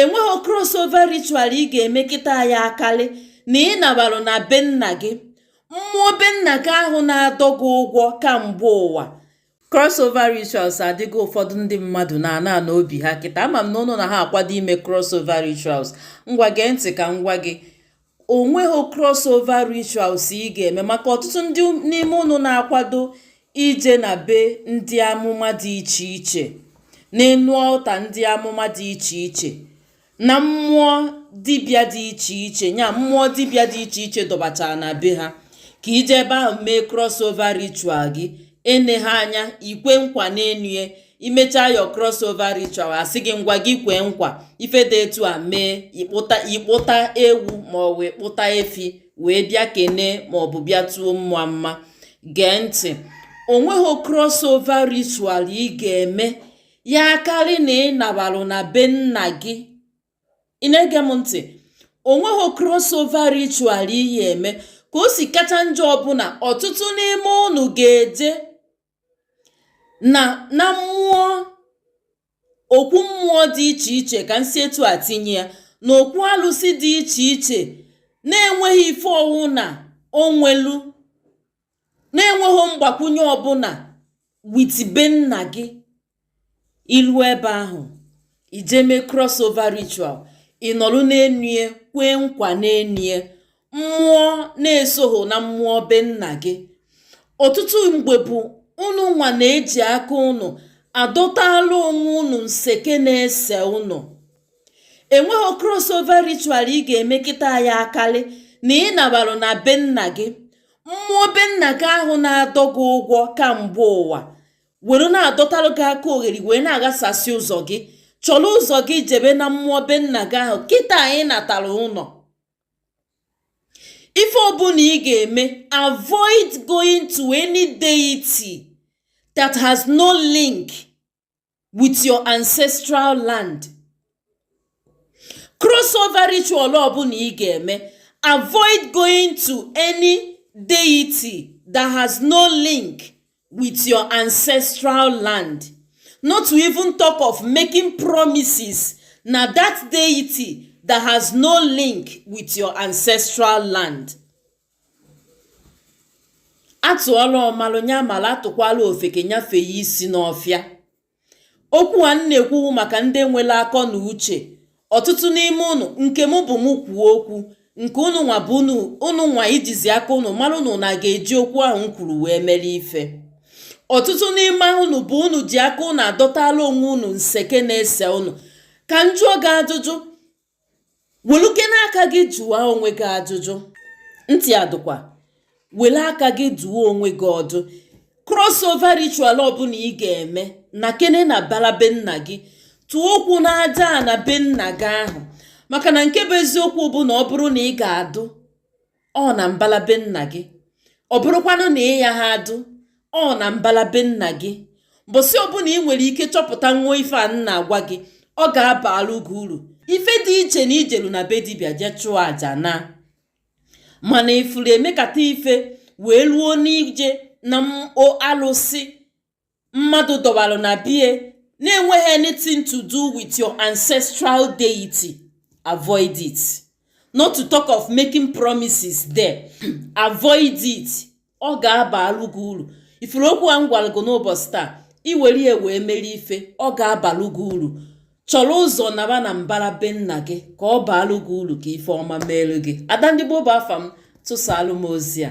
enweghị crossover ritual ị ga-eme kịta ya akarị na ị nabarụ na be nna gị mmụọ be nna gị ahụ na-adọ gị ụgwọ kamgbe ụwa crossover rituals adịgo ụfọdụ ndị mmadụ na-ana ana obi ha kịta ama m na ụnụ na ha akwado ime crossover rituals ngwa gee ntị ka m gwa gị onweghị crossover rituals ị ga-eme maka ọtụtụ ndị n'ime ụnụ na-akwado ije na be ndị amụma dị iche iche n'enu altar ndị amụma dị iche iche na mmụọ dibịa dị iche iche nya mmụọ dibịa dị iche iche dọbachara na be ha ka i je ebe ahụ mee crossover ritual gị ene ha anya i kwe nkwa n'enue i mechaa your crossover ritual a sị gị ngwa gị kwee nkwa ife dị etu a mee ị kpụta ewu ma ọ wụ ị kpụta efi wee bịa kene ma ọ bụ bịa tuo mmụọ mma gee ntị onweghị crossover ritual ị ga-eme ya akarị na ị nabalụ na be nna gị ị na-ege m ntị onweghị crossover ritual ị ya eme ka o si kacha njọ bụ na ọtụtụ n'ime ụnụ ga-eje na na mmụọ okwu mmụọ dị iche iche ka m si etu a tinye ya na okwu alụsị dị iche iche na-enweghị ife ọwụna o nwelu na-enweghị mgbakwunye ọbụla with be nna gị i lu ebe ahụ i je mee crossover ritual ị nọlụ n'enue kwee nkwa n'enue mmụọ na-esoghị na mmụọ be nna gị ọtụtụ mgbe bụ unu nwa na-eji aka unu adọtala onwe unu nseke na-ese unu enweghị crossover ritual ị ga-eme kịta ya akalị na ị nabarụ na be nna gị mmụọ be nna gị ahụ na-adọ gị ụgwọ kamgbe ụwa were na-adọtara gị aka ogheri wee na-aghasasị ụzọ gị chọrọ ụzọ gị jebe na mmụọ be nna gị ahụ kịta anyị natara ụlọ ife ọbụla ị ga-eme avoid going to any deity that has no link with your ancestral land crossover ritual ọbụla ị ga-eme avoid going to any deity that has no link with your ancestral land not to even talk of making promises na that deity that has no link with your ancestral land a tụọla ọmalụ nya mala a tụkwala ofeke nya fee ya isi n'ọfịa okwu a m na-ekwu wụ maka ndị nwere akọ na uche ọtụtụ n'ime unu nke m bụ m kwuo okwu nke unu nwa bụ unu nwa ejizi aka unu mara unu na ga-eji okwu ahụ m kwuru wee mere ife ọtụtụ n'ime unu bụ unu ji aka unu adọtala onwe unu nseke na-ese unu ka m jụọ gị ajụjụ welukene aka gị jụwa onwe gị ajụjụ ntị adụkwa wele aka gị dụọ onwe gị ọdụ crossover ritual ọbụla ị ga-eme nakene na mbala be nna gị tụọ ụkwụ n'aja na be nna gị ahụ maka na nke bụ eziokwu bụ na ọ bụrụ na ị ga-adụ ọ na mbala be nna gị ọ bụrụkwanụ na ị yaha adụ ọ na mbala be nna gị mbọsị ọbụla ị nwere ike chọpụta nwa ife a m na-agwa gị ọ ga-abalụ gị uru ife dị iche na i jelu na be dibịa jee chụọ aja naa mana ị fụrụ emekata ife wee luo n'ije na alụsị mmadụ dọbalụ na be ye na-enweghị anything to do with your ancestral deity avoid it not to talk of making promises there avoid it ọ ga-abalụ gị uru ị fụrụ okwu a m gwara gị n'ụbọchị taa i were ya wee mere ife ọ ga-abalụ gị uru chọrọ ụzọ naba na mbara be nna gị ka ọ baalụ gị uru ka ife ọma meelu gị ada ndị gboo bụ afa m tụsaalụ m ozi a